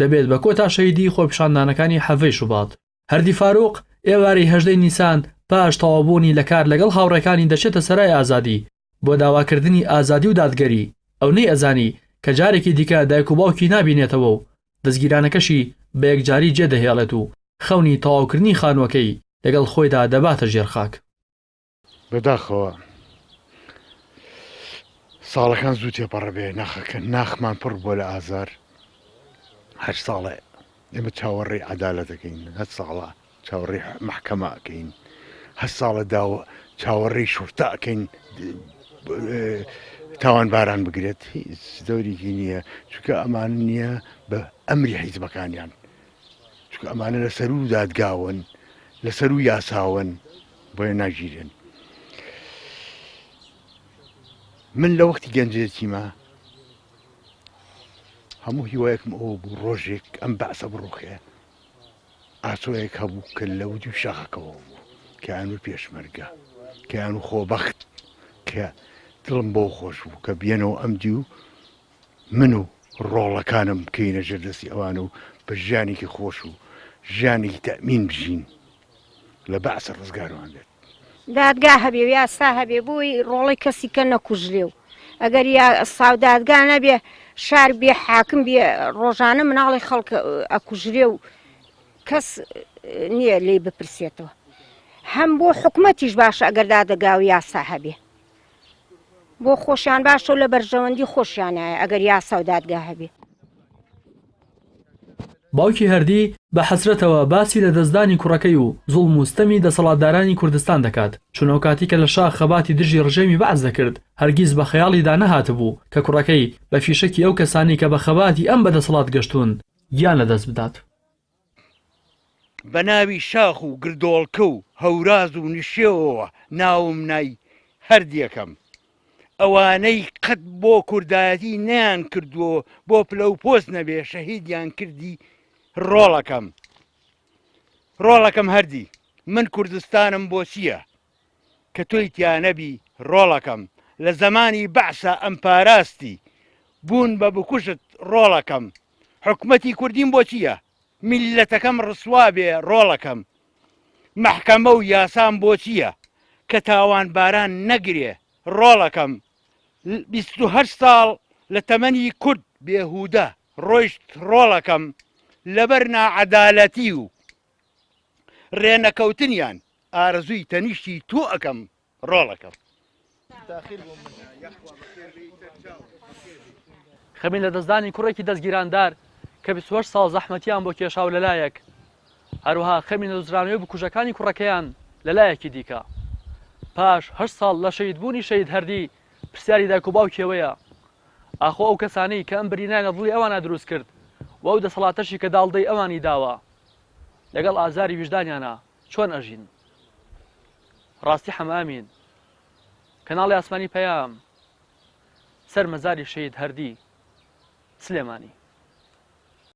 دەبێت بە کۆتا شەهیدیی خۆپیشاندانەکانی حەڤەی شوبات. هەردی فاروق، ئێوارەی هەژدەی نیسان پاش تەواوبوونی لە کار لەگەڵ هاوڕێکانی دەچێتە سەرای ئازادی بۆ داواکردنی ئازادی و دادگەری، ئەو نەیئەزانی کە جارێکی دیکە دایک و باوکی نابینێتەوە و دەزگیرانەکەشی بە یەکجاری جێدەهێڵێت و خەونی تەواوکردنی خانووەکەی لەگەڵ خۆیدا دەباتە ژێر خاک. بەداخەوە ساڵەکان زوو تێپەڕە بێ ناخەکە ناخمان پڕ بۆ لە ئازار هەر ساڵێ ئێمە چاوەڕێ عدالە دەکەین هەر ساڵە چاوەڕێ محکەمە ئەکەین هەر ساڵە داوە چاوەڕێی شورتا ئەکەین تاوان باران بگرێت هیچ دەورێکی نییە چونکە ئەمان نییە بە ئەمری حیزبەکانیان چونکە ئەمانە لە سەروو دادگاون لە سەروو یاساون بۆیە ناگیرێن من لە وەختی گەنجێتیمە هەموو هیوایەکم ئەو بوو ڕۆژێک ئەم بەعسە بڕوخێ ئاسۆیەک هەبوو کە لە وجو شەخەکەەوە بوو کەیان و پێشمەرگە کەیان و خۆبەخت کە دڵم بۆ خۆش بوو کە بێنەوە ئەم دی و من و ڕۆڵەکانم بکەینە ژێر دەستی ئەوان و بە ژیانێکی خۆش و ژیانێکی تەمین بژین لە بەعسە ڕزگارمان بێت دادگا هەبێ یاسا هەبێ بۆی ڕۆڵی کەسی کە نەکوژ لێ و ئەگەر یا ساودادگا نەبێ شار بێ حاکم بێ ڕۆژانە مناڵی خەڵک ئەکوژرێ و کەس نییە لی بپرسێتەوە هەم بۆ حکوومەتیش باشە ئەگەر دادەگا و یاسا هەبێ بۆ خۆشیان باشە و لە بەرژەوەندی خۆشیانایە ئەگەر یاسا و دادگا هەبێ. باوکی هەردی بە حەسرەتەوە باسی لەدەستدانی کوڕەکەی و زوڵم و ستەمی دەسەڵاتدارانی کوردستان دەکات، چونئەوکاتی کە لە شاخ خەباتی دژی ڕژێمی بەعس دەکرد، هەرگیز بە خەیاڵیدا نەهاتبوو کە کوڕەکەی بە فیشەکی ئەو کەسانەی کە بە خەباتی ئەم بە دەسەڵات گەشتوون، گیان لەدەست بدات. بەناوی شاخ و گردۆڵکە و هەوراز و نشێوەوە ناوم نای هەردیەکەم ئەوانەی قەت بۆ کوردایەتی نەیان کردووە بۆ پلە و پۆست نەبێ شەهیدیان کردی ڕۆڵەکەم ڕۆڵەکەم هەردی من کوردستانم بۆچیە کە تۆی تیا نەبی ڕۆڵەکەم لە زەمانی بەعسا ئەم پاراستی بوون بە بکوژت ڕۆڵەکەم حکومەتی کوردیم بۆ چییە میللەتەکەم ڕسوا بێ ڕۆڵەکەم مەحکەمە و یاسام بۆ چییە کە تاوانباران نەگرێ ڕۆڵەکەم بیست و هەشت ساڵ لە تەمەنی کورد بێهودە ڕۆیشت ڕۆڵەکەم لەبەر ناعەدالەتی و ڕێنەکەوتنیان ئارەزووی تەنیشتی تۆ ئەکەم ڕۆڵەکەم. خەمی لەدەستدانی کوڕێکی دەزگیراندار کە بیست و هەشت ساڵ زەحمەتیان بۆ کێشا و لەلایەک، هەروەها خەمی نەدۆزرانەوەی بکوژەکانی کوڕەکەیان لەلایەکی دیکە. پاش هەشت ساڵ لە شەهیدبوونی شەهید هەردی، پرسیاری دایک و باوکی ئەوەیە، ئاخۆ ئەو کەسانەی کە ئەم برینایان لە دڵی ئەواندا دروست کرد و ئەو دەسەڵاتەشی کە داڵدەی ئەوانی داوە، لەگەڵ ئازاری ویژدانیانە؟ چۆن ئەژین ڕاستی حەمە ئەمین کەناڵی ئاسمانی پەیام سەر مەزاری شەهید هەردی سلێمانی.